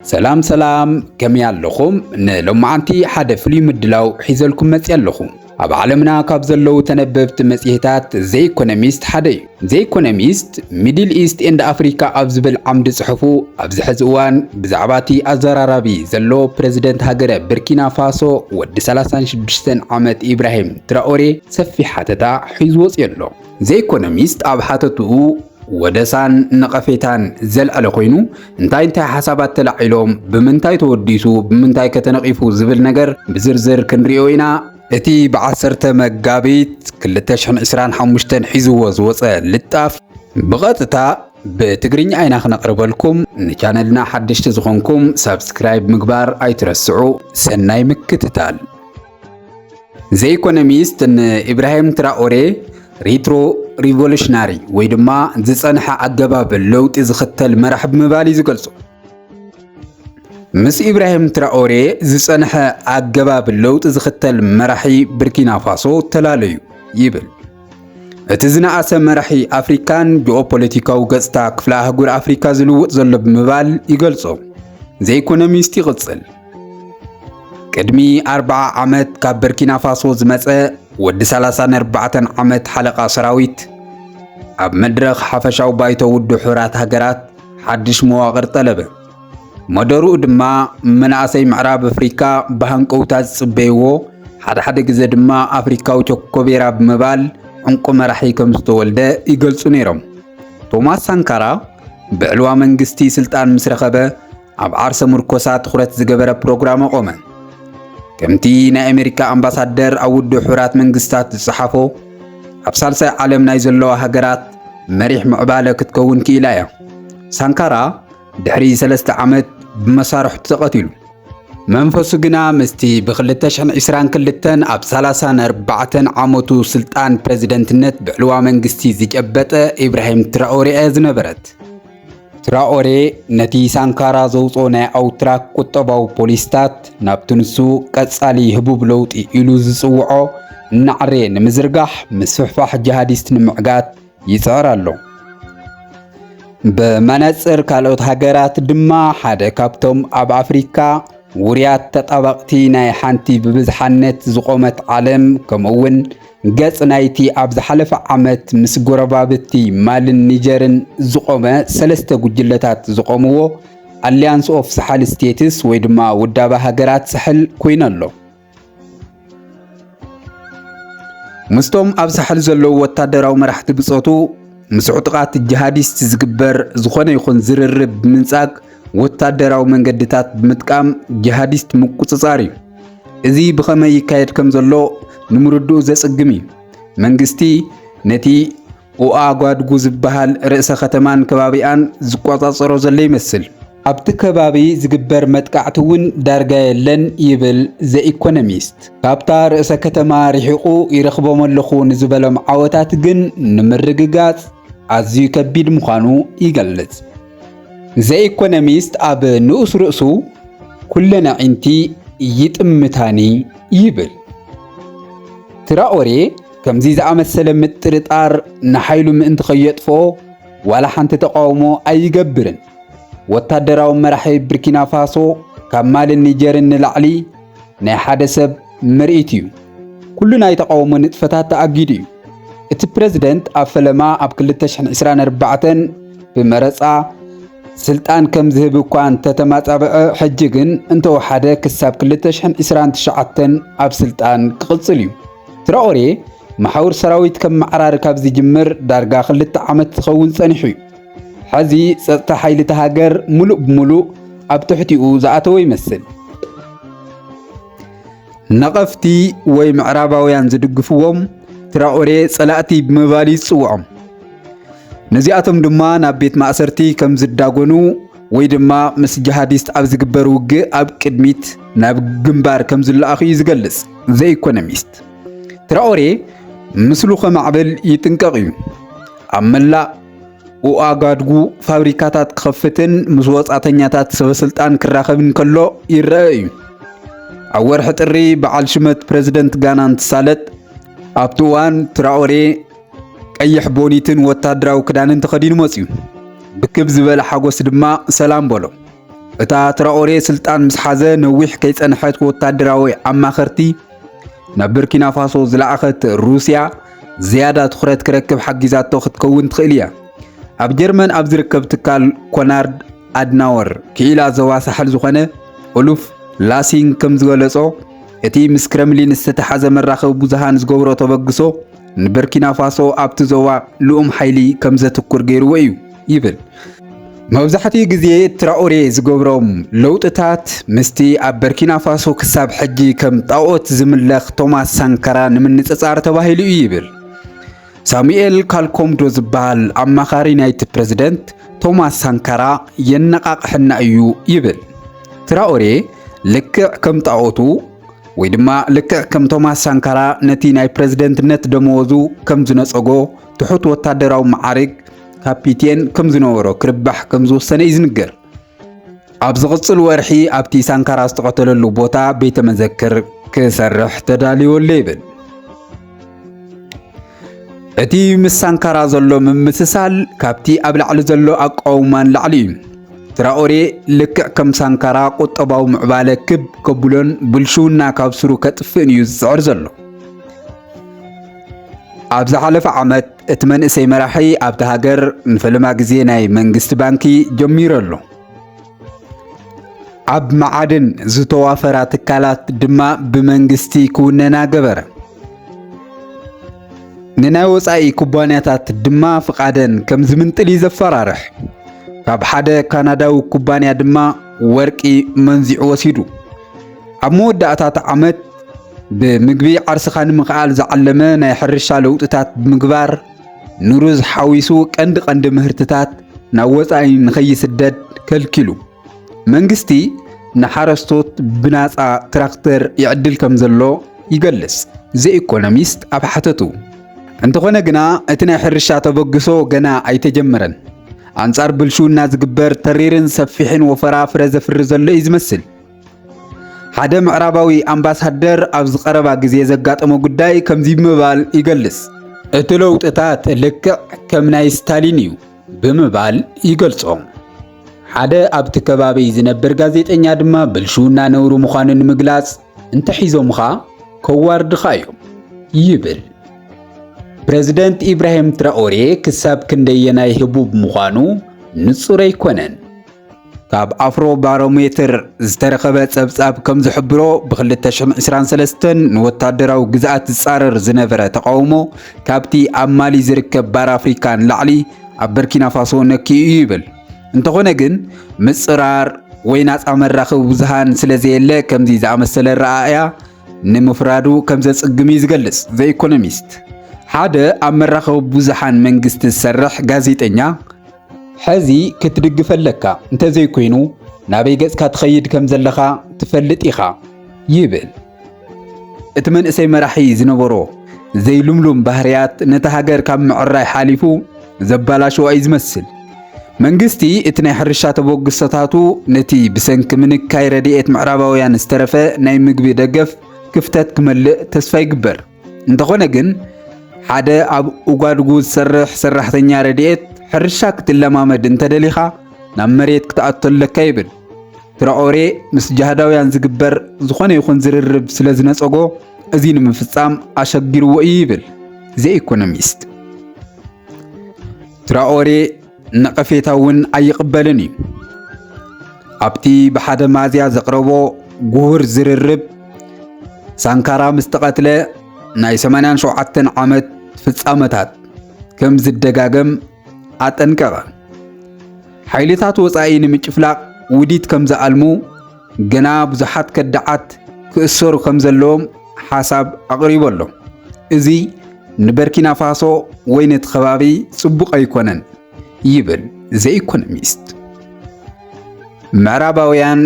ሰላም ሰላም ከመይ ኣለኹም? ንሎማዓንቲ ሓደ ፍሉይ ምድላው ሒዘልኩም መጽየ ኣለኹ። ኣብ ዓለምና ካብ ዘለዉ ተነበብቲ መጽሔታት ዘ ኢኮኖሚስት ሓደ እዩ። ዘ ኢኮኖሚስት ሚድል ኢስት ኤንድ ኣፍሪካ ኣብ ዝብል ዓምዲ ጽሑፉ ኣብዚ ሕዚ እዋን ብዛዕባ እቲ ኣዘራራቢ ዘሎ ፕረዚደንት ሃገረ ብርኪና ፋሶ ወዲ 36 ዓመት ኢብራሂም ትራኦሬ ሰፊሕ ሓተታ ሒዙ ወጽዩ ኣሎ። ዘይኮኖሚስት ኣብ ሓተትኡ ወደሳን ነቐፌታን ዘልዐለ ኮይኑ እንታይ እንታይ ሓሳባት ተላዒሎም ብምንታይ ተወዲሱ ብምንታይ ከተነቒፉ ዝብል ነገር ብዝርዝር ክንሪኦ ኢና። እቲ ብዓሰርተ መጋቢት 2025 ሒዝዎ ዝወፀ ልጣፍ ብቐጥታ ብትግርኛ ኢና ክነቕርበልኩም። ንቻነልና ሓደሽቲ ዝኾንኩም ሳብስክራይብ ምግባር ኣይትረስዑ። ሰናይ ምክትታል። ዘ ኢኮኖሚስት ንኢብራሂም ትራኦሬ ሪትሮ ሪቮሉሽናሪ ወይ ድማ ዝፀንሐ ኣገባብ ለውጢ ዝኽተል መራሕ ብምባል እዩ ዝገልጾ። ምስ ኢብራሂም ትራኦሬ ዝፀንሐ ኣገባብ ለውጢ ዝኽተል መራሒ ብርኪና ፋሶ ተላለዩ ይብል። እቲ ዝነኣሰ መራሒ ኣፍሪካን ጂኦፖለቲካዊ ገጽታ ክፍለ ኣህጉር ኣፍሪካ ዝልውጥ ዘሎ ብምባል ይገልጾ። ዘ ኢኮኖሚስት ይቕጽል። ቅድሚ 40 ዓመት ካብ በርኪና ፋሶ ዝመጸ ወዲ 34 ዓመት ሓለቓ ሰራዊት ኣብ መድረኽ ሓፈሻዊ ባይቶ ውድብ ሕራት ሃገራት ሓድሽ መዋቕር ጠለበ። መደርኡ ድማ መናእሰይ ምዕራብ ኣፍሪካ ብሃንቀውታ ዝጽበይዎ ሓድሓደ ግዜ ድማ ኣፍሪካዊ ቾኮቤራ ብምባል ዕንቁ መራሒ ከም ዝተወልደ ይገልጹ ነይሮም። ቶማስ ሳንካራ ብዕልዋ መንግስቲ ስልጣን ምስ ረኸበ ኣብ ዓርሰ ምርኮሳ ትኹረት ዝገበረ ፕሮግራም ኣቖመ። ከምቲ ናይ ኣሜሪካ ኣምባሳደር ኣብ ውድብ ሕቡራት መንግስታት ዝጸሓፎ ኣብ ሳልሳይ ዓለም ናይ ዘለዋ ሃገራት መሪሕ ምዕባለ ክትከውን ክኢላ እያ። ሳንካራ ድሕሪ ሰለስተ ዓመት ብመሳርሕቱ ተቐቲሉ። መንፈሱ ግና ምስቲ ብ2022 ኣብ 34 ዓመቱ ስልጣን ፕረዚደንትነት ብዕልዋ መንግስቲ ዝጨበጠ ኢብራሂም ትራኦሬ እያ ዝነበረት። ትራኦሬ ነቲ ሳንካራ ዘውፅኦ ናይ ኣውትራክ ቁጠባዊ ፖሊስታት ናብቲ ንሱ ቀጻሊ ህቡብ ለውጢ ኢሉ ዝጽውዖ እናዕረየ ንምዝርጋሕ ምስፍሕፋሕ ጂሃዲስት ንምዕጋት ይጽዕር ኣሎ። ብመነጽር ካልኦት ሃገራት ድማ ሓደ ካብቶም ኣብ ኣፍሪካ ውርያት ተጣበቕቲ ናይ ሓንቲ ብብዝሓነት ዝቖመት ዓለም ከምኡውን ገጽ ናይቲ ኣብ ዝሓለፈ ዓመት ምስ ጎረባብቲ ማልን ኒጀርን ዝቖመ ሰለስተ ጉጅለታት ዝቖምዎ ኣሊያንስ ኦፍ ሳሕል ስቴትስ ወይ ድማ ውዳበ ሃገራት ሳሕል ኮይኑ ኣሎ። ምስቶም ኣብ ሳሕል ዘለዉ ወታደራዊ መራሕቲ ብጾቱ ምስ ዕጡቓት ጂሃዲስት ዝግበር ዝኾነ ይኹን ዝርርብ ብምንጻግ ወታደራዊ መንገድታት ብምጥቃም ጂሃዲስት ምቁጽጻር እዩ። እዚ ብኸመይ ይካየድ ከም ዘሎ ንምርድኡ ዘጽግም እዩ። መንግስቲ ነቲ ኡኣጓድጉ ዝበሃል ርእሰ ከተማን ከባቢኣን ዝቆጻጸሮ ዘሎ ይመስል። ኣብቲ ከባቢ ዝግበር መጥቃዕቲ እውን ዳርጋ የለን ይብል ዘኢኮኖሚስት። ካብታ ርእሰ ከተማ ርሒቑ ይረኽቦም ኣለኹ ንዝበሎም ዓወታት ግን ንምርግጋጽ ኣዝዩ ከቢድ ምዃኑ ይገልጽ። ዘኢኮኖሚስት ኣብ ንኡስ ርእሱ ኩለን ኣዒንቲ ይጥምታኒ ይብል። ትራኦሬ ከምዚ ዝኣመሰለ ምጥርጣር ንሓይሉ ምእንቲ ከየጥፎ ዋላ ሓንቲ ተቃውሞ ኣይገብርን። ወታደራዊ መራሒ ብርኪና ፋሶ ካብ ማልን ኒጀርን ንላዕሊ ናይ ሓደ ሰብ ምርኢት እዩ። ኩሉ ናይ ተቓውሞ ንጥፈታት ተኣጊዱ እዩ። እቲ ፕረዚደንት ኣብ ፈለማ ኣብ 2024 ብመረጻ ስልጣን ከም ዝህብ እኳ እንተተማጻበዐ ሕጂ ግን እንተወሓደ ክሳብ 2029 ኣብ ስልጣን ክቕጽል እዩ። ትራኦሬ መሓውር ሰራዊት ከም መዓራሪ ካብ ዝጅምር ዳርጋ ክልተ ዓመት ዝኸውን ጸኒሑ እዩ። ሐዚ ጸጥታ ሓይሊ እታ ሃገር ሙሉእ ብሙሉእ ኣብ ትሕቲኡ ዝኣተወ ይመስል። ነቐፍቲ ወይ ምዕራባውያን ዝድግፍዎም ትራኦሬ ጸላእቲ ብምባል እዩ ዝጽውዖም። ነዚኣቶም ድማ ናብ ቤት ማእሰርቲ ከም ዝዳጎኑ ወይ ድማ ምስ ጂሃዲስት ኣብ ዝግበር ውግእ ኣብ ቅድሚት ናብ ግንባር ከም ዝለኣኹ እዩ ዝገልጽ ዘኢኮኖሚስት። ትራኦሬ ምስሉ ከማዕብል ይጥንቀቕ እዩ ኣብ መላእ ኡኣጋድጉ ፋብሪካታት ክኸፍትን ምስ ወጻእተኛታት ሰበስልጣን ክራኸብን ከሎ ይረአ እዩ። ኣብ ወርሒ ጥሪ በዓል ሽመት ፕረዚደንት ጋና እንትሳለጥ ኣብቲ እዋን ትራኦሬ ቀይሕ ቦኒትን ወታደራዊ ክዳንን ተኸዲኑ መፅዩ ብክብ ዝበለ ሓጎስ ድማ ሰላም በሎ። እታ ትራኦሬ ስልጣን ምስ ሓዘ ነዊሕ ከይጸንሐት ወታደራዊ ኣማኸርቲ ናብ ብርኪናፋሶ ዝለኣኸት ሩስያ ዝያዳ ትኹረት ክረክብ ሓጊዛቶ ክትከውን ትኽእል እያ። ኣብ ጀርመን ኣብ ዝርከብ ትካል ኮናርድ ኣድናወር ክኢላ ዞባ ሳሕል ዝኾነ ኡሉፍ ላሲንግ ከም ዝገለጾ እቲ ምስ ክረምሊን ዝተተሓዘ መራኸቢ ብዙሃን ዝገብሮ ተበግሶ ንበርኪናፋሶ ኣብቲ ዞባ ልኡም ሓይሊ ከም ዘትኩር ገይርዎ እዩ። ይብል። መብዛሕትኡ ግዜ ትራኦሬ ዝገብሮም ለውጥታት ምስቲ ኣብ በርኪና ፋሶ ክሳብ ሕጂ ከም ጣኦት ዝምለኽ ቶማስ ሳንካራ ንምንጽጻር ተባሂሉ እዩ ይብል። ሳሙኤል ካልኮምዶ ዝበሃል ኣማኻሪ ናይቲ ፕረዚደንት ቶማስ ሳንካራ የነቓቕሐና እዩ ይብል። ትራኦሬ ልክዕ ከም ጣኦቱ ወይ ድማ ልክዕ ከም ቶማስ ሳንካራ ነቲ ናይ ፕረዚደንትነት ደመወዙ ከም ዝነጸጎ ትሑት ወታደራዊ መዓርግ ካፒቴን ከም ዝነበሮ ክርባሕ ከም ዝወሰነ እዩ ዝንገር። ኣብ ዝቕጽል ወርሒ ኣብቲ ሳንካራ ዝተቐተለሉ ቦታ ቤተ መዘክር ክሰርሕ ተዳልዮ ኣሎ ይብል። እቲ ምስ ሳንካራ ዘሎ ምምስሳል ካብቲ ኣብ ላዕሊ ዘሎ ኣቋውማን ላዕሊ እዩ። ትራኦሬ ልክዕ ከም ሳንካራ ቁጠባዊ ምዕባለ ክብ ከብሎን ብልሽውና ካብ ስሩ ከጥፍእን እዩ ዝጽዕር ዘሎ። ኣብ ዝሓለፈ ዓመት እቲ መንእሰይ መራሒ ኣብቲ ሃገር ንፈለማ ግዜ ናይ መንግስቲ ባንኪ ጀሚሩ ኣሎ። ኣብ መዓድን ዝተዋፈራ ትካላት ድማ ብመንግስቲ ክውነና ገበረ። ንናይ ወፃኢ ኩባንያታት ድማ ፍቓደን ከም ዝምንጥል እዩ ዘፈራርሕ። ካብ ሓደ ካናዳዊ ኩባንያ ድማ ወርቂ መንዚዑ ወሲዱ። ኣብ መወዳእታ እቲ ዓመት ብምግቢ ዓርስኻ ንምኽኣል ዝዓለመ ናይ ሕርሻ ለውጥታት ብምግባር ንሩዝ ሓዊሱ ቀንዲ ቀንዲ ምህርትታት ናብ ወፃኢ ንኸይስደድ ከልኪሉ። መንግስቲ ንሓረስቶት ብናፃ ትራክተር ይዕድል ከም ዘሎ ይገልጽ ዘኢኮኖሚስት ኣብ ሓተቱ። እንተኾነ ግና እቲ ናይ ሕርሻ ተበግሶ ገና ኣይተጀመረን። ኣንጻር ብልሽውና ዝግበር ተሪርን ሰፊሕን ወፈራ ፍረ ዘፍሪ ዘሎ እዩ ዝመስል። ሓደ ምዕራባዊ ኣምባሳደር ኣብዚ ቀረባ ግዜ ዘጋጠሞ ጉዳይ ከምዚ ብምባል ይገልጽ፣ እቲ ለውጥታት ልክዕ ከም ናይ ስታሊን እዩ ብምባል ይገልጾ። ሓደ ኣብቲ ከባቢ ዝነብር ጋዜጠኛ ድማ ብልሽውና ነውሪ ምዃኑ ንምግላጽ እንተሒዞምኻ ከዋርድኻ እዮም ይብል። ፕረዚደንት ኢብራሂም ትራኦሬ ክሳብ ክንደየናይ ህቡብ ምዃኑ ንጹር ኣይኮነን። ካብ ኣፍሮ ባሮሜትር ዝተረኸበ ጸብጻብ ከም ዝሕብሮ ብ2023 ንወታደራዊ ግዝኣት ዝጻረር ዝነበረ ተቓውሞ ካብቲ ኣብ ማሊ ዝርከብ ባር ኣፍሪካ ንላዕሊ ኣብ በርኪናፋሶ ነኪኡ እዩ ይብል። እንተኾነ ግን ምጽራር ወይ ናጻ መራኸቢ ብዙሃን ስለ ዘየለ ከምዚ ዝኣመሰለ ረኣእያ ንምፍራዱ ከም ዘጽግም እዩ ዝገልጽ ዘ ኢኮኖሚስት። ሓደ ኣብ መራኸቢ ብዙሃን መንግስቲ ዝሰርሕ ጋዜጠኛ ሐዚ ክትድግፈ ኣለካ እንተዘይኮይኑ ናበይ ገጽካ ትኸይድ ከም ዘለኻ ትፈልጥ ኢኻ ይብል። እቲ መንእሰይ መራሒ ዝነበሮ ዘይልምሉም ባህርያት ነቲ ሃገር ካብ ምዕራይ ሓሊፉ ዘባላሸዋ እዩ ዝመስል። መንግስቲ እቲ ናይ ሕርሻ ተበግሶታቱ ነቲ ብሰንኪ ምንካይ ረድኤት ምዕራባውያን ዝተረፈ ናይ ምግቢ ደገፍ ክፍተት ክመልእ ተስፋ ይግበር። እንተኾነ ግን ሓደ ኣብ ኡጓድጉ ዝሰርሕ ሰራሕተኛ ረድኤት ሕርሻ ክትለማመድ እንተደሊኻ ናብ መሬት ክትኣቶ ኣለካ ይብል። ትራኦሬ ምስ ጃህዳውያን ዝግበር ዝኾነ ይኹን ዝርርብ ስለ ዝነጸጎ እዚ ንምፍጻም ኣሸጊርዎ እዩ ይብል ዘኢኮኖሚስት። ትራኦሬ ነቐፌታ እውን ኣይቕበልን እዩ። ኣብቲ ብሓደ ማዝያ ዘቕረቦ ጉሁር ዝርርብ ሳንካራ ምስ ተቐትለ ናይ 87 ዓመት ፍጻመታት ከም ዝደጋገም ኣጠንቀቐ። ሓይልታት ወጻኢ ንምጭፍላቕ ውዲት ከም ዝኣልሙ ግና ብዙሓት ከዳዓት ክእሰሩ ከም ዘለዎም ሓሳብ ኣቕሪቡ ኣሎ። እዚ ንበርኪና ፋሶ ወይ ነቲ ከባቢ ጽቡቕ ኣይኮነን ይብል ዘኢኮኖሚስት። ምዕራባውያን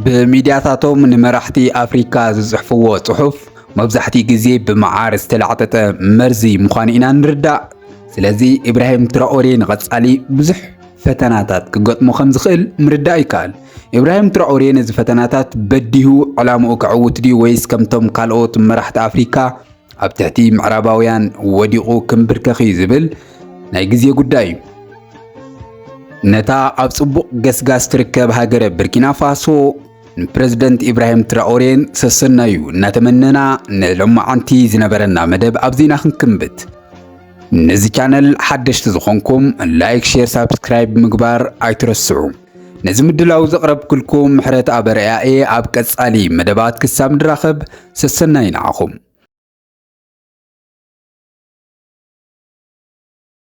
ብሚድያታቶም ንመራሕቲ ኣፍሪካ ዝጽሕፍዎ ጽሑፍ መብዛሕትኡ ግዜ ብመዓር ዝተላዕጠጠ መርዚ ምዃኑ ኢና ንርዳእ። ስለዚ ኢብራሂም ትራኦሬ ንቐጻሊ ብዙሕ ፈተናታት ክገጥሞ ከም ዝኽእል ምርዳእ ይከኣል። ኢብራሂም ትራኦሬ ነዚ ፈተናታት በዲሁ ዕላምኡ ከዕውት ድዩ ወይስ ከምቶም ካልኦት መራሕቲ ኣፍሪካ ኣብ ትሕቲ ምዕራባውያን ወዲቑ ክምብርከኽ እዩ ዝብል ናይ ግዜ ጉዳይ እዩ። ነታ ኣብ ጽቡቕ ገስጋስ ትርከብ ሃገረ ብርኪና ፋሶ ንፕረዚደንት ኢብራሂም ትራኦሬን ሰሰናዩ እናተመነና ንሎማዓንቲ ዝነበረና መደብ ኣብዚና ክንክምብት ነዚ ቻነል ሓደሽቲ ዝኾንኩም ላይክ፣ ሼር፣ ሳብስክራይብ ምግባር ኣይትረስዑ። ነዚ ምድላው ዘቕረብክልኩም ምሕረት ኣበርያ እየ። ኣብ ቀጻሊ መደባት ክሳብ ንራኸብ ሰሰናይ ንዓኹም።